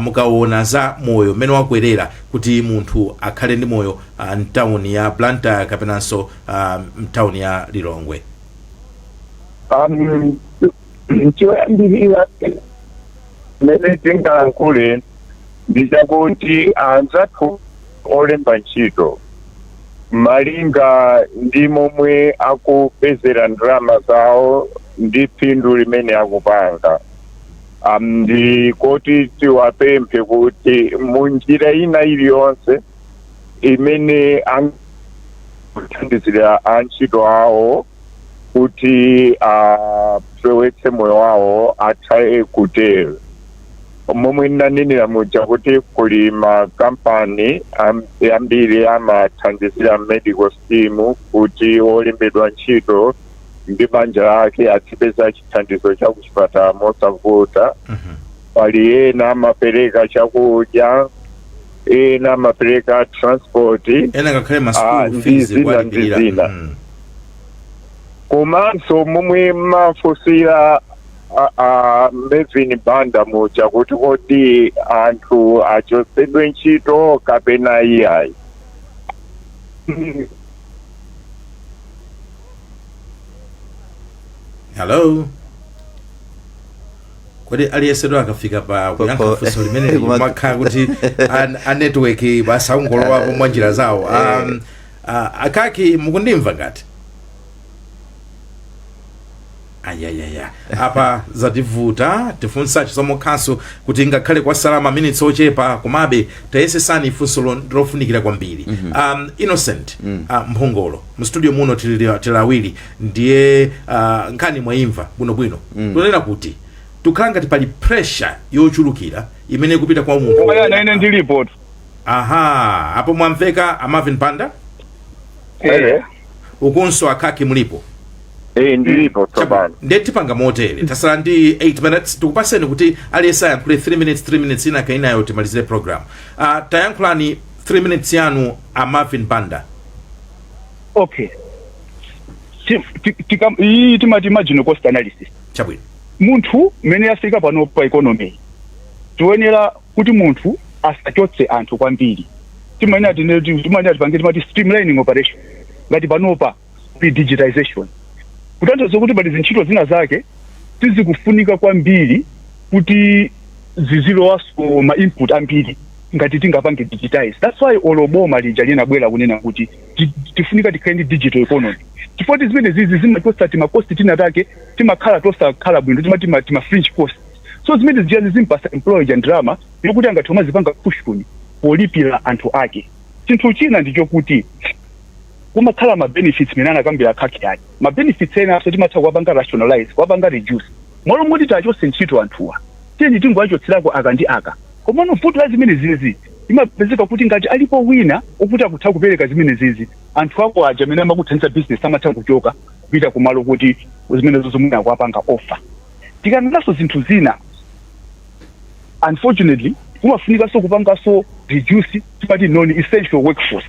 mukawona za moyo mmene wakwelera kuti munthu akhale ndi moyo mtawuni ya Blantyre kapenanso mtawuni ya Lilongwe? Amh choyambilira chimene tingalankhule ndi chakuti anzathu. olemba ntchito malinga ndi momwe akupezera ndalama zawo ndi phindu limene akupanga um, ndi koti tiwapemphe kuti mu njira ina iliyonse imene angathandizire antchito awo kuti afewetse moyo wawo atha kutero momwe ndinanenera muja kuti kuli makampani am- ambiri amathandizira medical scheme kuti olembedwa ntchito ndi banja lake azipeza chithandizo cha kuchipatala mosavuta Mhm. pali ena amapereka chakudya ena amapereka transport ena ngakhale ma school fees ndi zina ndi zina. Mhm. komanso momwe amafunsira a Marvin Banda muja kuti kodi anthu achotsedwe ntchito kapena iyayi hello kodi aliyensetu akafika pa kuyankha funso limeneli kumakhala kuti an- a network basi akungolowapo mwa njira zawo um, uh, a Kaki mukundimva ngati ayayaya apa zativuta tifunsa chisomo khasu kuti ngakhale kwatsala maminitsi ochepa komabe tayesesani funsolo ndi lofunikira kwambiri um, innocent uh, mphongolo mu studio muno tili tili awiri ndiye uh, nkhani mwaimva bwinobwino tunena kuti zikukhala ngati pali pressure yochulukira imene ikupita kwa munthu ine ndilipo tu aha apo mwamveka a Marvin Banda Hello. ukunso a Kaki mulipo Eh, ndilipo tsopano nde tipanga motere tasala ndi 8 minutes tikupaseni kuti aliyense ayankhule 3 minutes 3 minutes inaka inayo timalizire program uh, tayankhulani 3 minutes yanu a marvin banda okay Ti- ti- tika- iyi timati marginal cost analysis chabwino munthu mmene yafika pano pa economy tiyenera kuti munthu asachotse anthu kwambiri timayenera tine- timayenera tipange timati streamlining operation ngati panopa ndi digitization kutanthauza kuti pali zintchito zina zake sizikufunika kwambiri kuti zizilowaso ma input ambiri ngati tingapange digitize that's why olo boma lija linabwera kunena kuti ti- tifunika tikhale ndi digital economy chifukwa ti zimene zizi zimachotsa timakosti tina take timakhala tosakhala bwino timati ma- tima fringe cost so zimene zijazi zimampatsa employer ja ndalama yokuti angathe umazipanga cushion polipira anthu ake chinthu china ndichokuti kumakhala ma benefits mene anakambira akhakhi aja ma benefits enaso timatha kuwapanga rationalize kuwapanga reduce malo moti tiwachotse ntchito anthuwa tiyeni tingowachotserako aka ndi aka komano vuto la zimenezizi imapezeka kuti ngati alipo wina okuti akutha kupereka zimenezizi anthu ako aja amene amakuthandiza business amatha kuchoka kupita kumalo okuti zimenezo mwina akuwapanga offer tikaonanso zinthu zina unfortunately kumafunikaso kupangaso reduce timati non essential workforce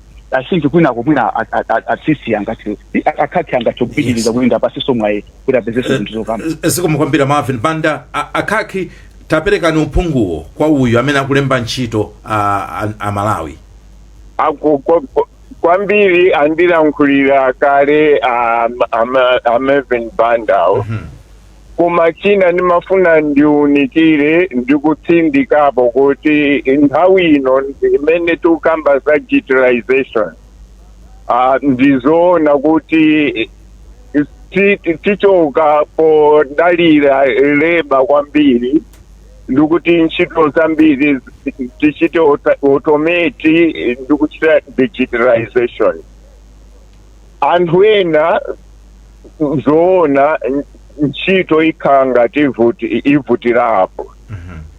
i think kwinako mwina a- a- a- atsisi angati akhakhi angathe kupitiriza kuti ndiwapatsenso mwayi kuti apezenso zinthu zokamba zikomo kwambiri marvin banda A- akhakhi taperekani uphunguwo kwa uyu amene akulemba ntchito a, a, a malawi Aku- kwa- kwa- kwambiri andilankhulira kale um, ama- a marvin bandawo Koma china ndimafuna ndiunikire ndi kutsindikapo kuti nthawi ino imene tikukamba za digitalization uh, ndizoona kuti ti- ti- tichoka podalira leba kwambiri ndikuti ntchito zambiri zi- tichite auto- automate ndikuchita digitalization anthu ena zoona ntchito ikhala ngati ivuti- ivutirapo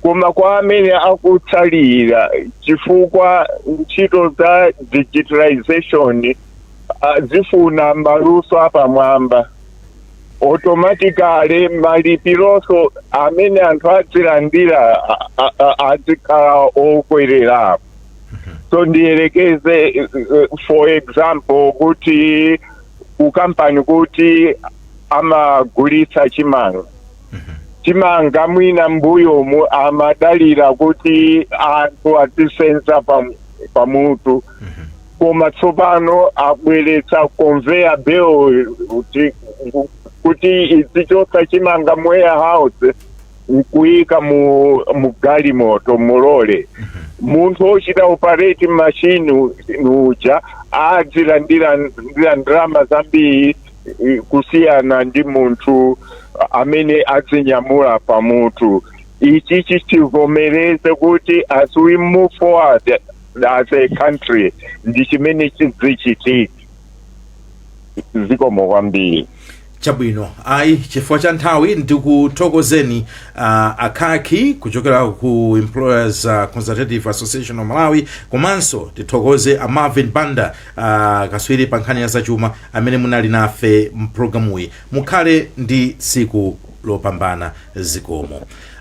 koma kwa amene akutsalira chifukwa ntchito za digitalization ah, zifuna maluso apamwamba automatically malipironso amene anthu adzilandira a- a- a- adzikhala okwererapo so ndiyerekeze eh, eh, for example kuti kukampani kuti amagulitsa chimanga chimanga mwina mbuyomu amadalira kuti anthu azisenza pa- pamutu koma tsopano abweretsa conveyor belt kuti- kuti izichotsa chimanga mu warehouse nkuyika mu mugalimoto mulole munthu ochita operate machine uja adzilandira ndira ndalama zambiri eh, kusiyana ndi munthu amene adzinyamula pamutu ichi tichivomereze kuti as we move forward as a country ndi chimene chidzichitika zikomo kwambiri chabwino ayi chifukwa cha nthawi ndikuthokozeni uh, a Khaki kuchokera ku employers uh, consultative association of malawi komanso tithokoze a marvin banda uh, kaswiri pa nkhani ya zachuma amene munali nafe mpulogalamuyi mukhale ndi tsiku lopambana zikomo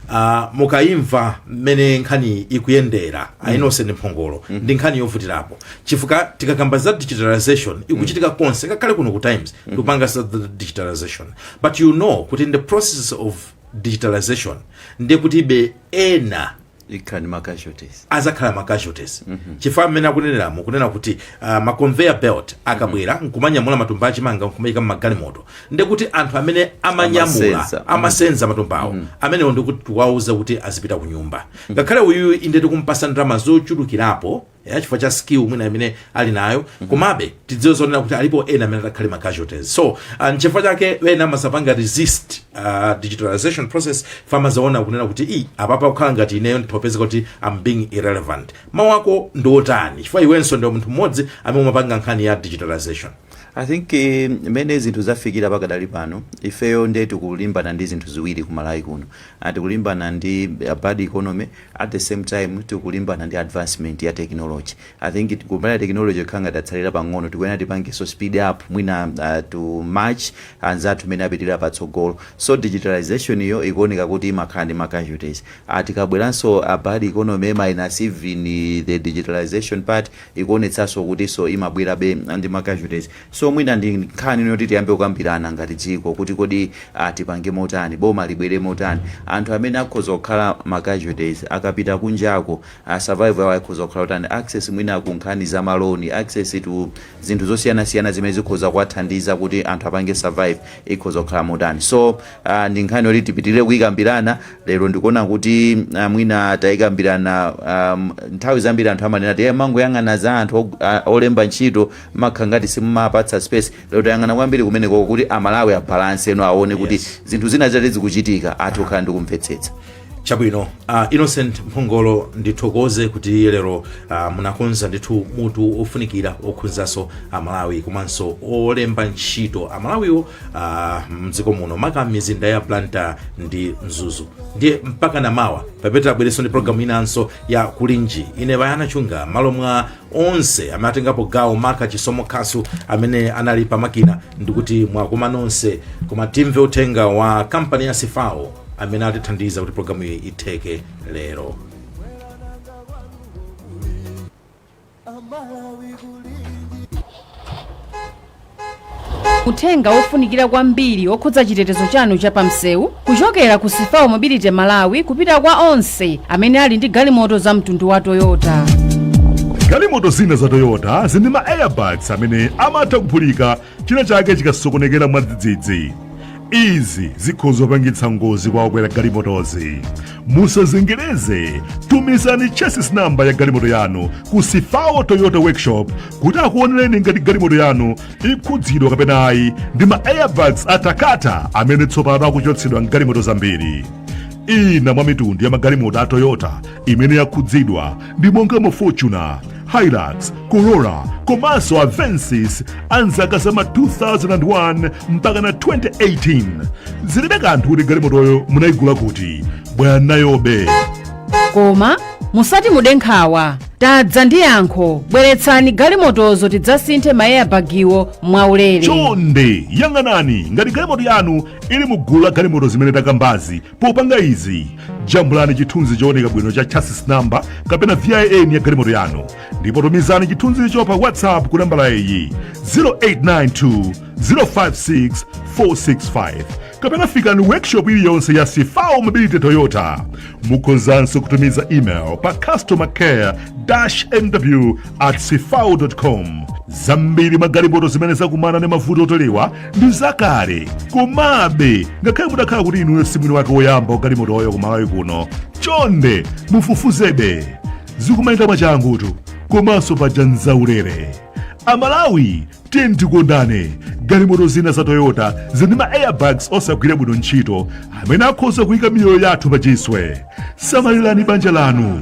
Ah, mukayimva mmene nkhani ikuyendera Innocent Mphongolo ndi nkhani yovutirapo chifukwa tikakamba za digitalization ikuchitika konse ngakhale kuno ku times tikupanga za the digitalization but you know kuti in the process of digitalization ndiye kuti ibe ena ikhala ndi ma casualties azakhala ma casualties chifukwa mmene akuneneramo kunena kuti uh, ma conveyor belt akabwera nkumanyamula matumba achimanga nkumayika mmagalimoto ndekuti anthu amene amanyamula amasenza matumbawo mm. amenewo ndikuti tiwauza kuti azipita ku nyumba mm. ngakhale uyu inde tikumpasa ndalama zochulukirapo ya chifukwa cha skill mwina imene ali nayo mm-hmm. komabe tidziwe zonena kuti alipo ena amene atakhale ma casualties so uh, nchifukwa chake ena amazapanga resist uh, digitalization process chifukwa amazaona kunena kuti i apapa kukhala ngati ineyo nditopeza kuti I'm being irrelevant mawu ako ndiotani chifukwa iwenso ndiwe munthu mmodzi amene umapanga nkhani ya digitalization I think mmene zinthu zafikira pakadali pano ifeyo nde tikulimbana ndi zinthu ziwiri ku Malawi kuno Ah, tikulimbana ndi a bad economy at the same time tikulimbana ndi advancement ya technology I think it- kumbali ya technology ikhala ngati tatsalira pang'ono tikuyenera tipangenso speed up mwina ah, to match anzathu mene apitirira patsogolo so digitalization iyo ikuoneka kuti imakhala ndi ma casualties Ah, tikabweranso a bad economy minus even the digitalization part ikuonetsaso kutiso imabwerabe ndi ma casualties so mwina ndi nkhani yoti tiyambe kukambirana ngati dziko kuti kodi tipange motani, boma libwere motani, anthu amene akhoza kukhala ma casualties akapita kunjako survival yawo ikhoza kukhala yotani, access mwina ku nkhani za ma loan, access to zinthu zosiyanasiyana zimene zikhoza kuwathandiza kuti anthu apange survive ikhoza kukhala motani so ndi nkhani yoti tipitilire kuyikambirana. Lero ndikuona kuti mwina taikambirana nthawi zambiri anthu amanena kuti mmangoyang'ana za anthu olemba ntchito mmakhala ngati simumawapatsa space lero tayang'ana kwambiri kumenekoko kuti amalawi abalansenso aone kuti Yes. zinthu zina zitati zikuchitika athe kukhala ndi kumvetsetsa chabwino uh, Innocent Mphongolo ndithokoze kuti lero uh, munakonza ndithu mutu ofunikira okhudzanso amalawi komanso olemba ntchito amalawiwo uh, mdziko muno maka m'mizinda ya Blantyre ndi Mzuzu ndiye mpakana mawa pomwe tidzabwerenso ndi programu inanso ya Kulinji ine Bayana Chunga m'malo mwa onse amene atengapo gawo maka Chisomo Khasu amene anali pa makina ndikuti mwakoma nonse koma timve uthenga wa kampani ya CFAO amene atithandiza kuti programu iyi itheke lero Uthenga wofunikira kwambiri wokhudza chitetezo chanu cha pamsewu kuchokera ku CFAO Mobility Malawi kupita kwa onse amene ali ndi galimoto za mtundu wa Toyota. galimoto zina za Toyota zili ndi ma airbags amene amatha kuphulika china chake chikasokonekera mwadzidzidzi izi zikhoza kupangitsa ngozi kwa okwera galimotozi musazengereze tumizani chassis namba ya galimoto yanu ku CFAO Toyota workshop kuti akuonereni ngati galimoto yanu ikukhudzidwa kapena ayi ndi ma airbags a Takata amene tsopano akuchotsedwa m'galimoto zambiri ina mwa mitundu ya magalimoto a Toyota imene yakhudzidwa ndi monga mu Fortuner Hilux Corolla komanso Avensis a mzaka za ma 2001 mpakana 2018 zilibe kanthu kuti galimotoyo munayigula kuti bweranayobe koma musati mude nkhawa tadza ndi yankho bweretsani galimotozo tidzasinthe ma airbagiwo mwaulere chonde yang'anani ngati galimoto yanu ili mu gulu la galimoto zimene takambazi Popanga izi, jambulani chithunzi chooneka bwino cha chassis number kapena VIN ya galimoto yanu ndipo tumizani chithunzicho pa WhatsApp ku nambala iyi 0892 056 465 kapena fikani workshop iliyonse ya CFAO Mobility Toyota. Mukhozanso kutumiza email pa customer care mw at cfao.com. Zambiri mwa galimoto zimene zakumana ndi mavuto oterewa ndi zakale komabe ngakhale mutakhala kuti inuyo si mwini wake woyamba wa galimotoyo ku Malawi kuno chonde mufufuzebe zikumayenda mwachangutu komanso paja nzaulere amalawi tiyeni tikondane galimoto zina za Toyota zili ndi ma airbags osagwira bwino ntchito amene akhoza kuyika miyoyo yathu pa chiswe samalirani banja lanu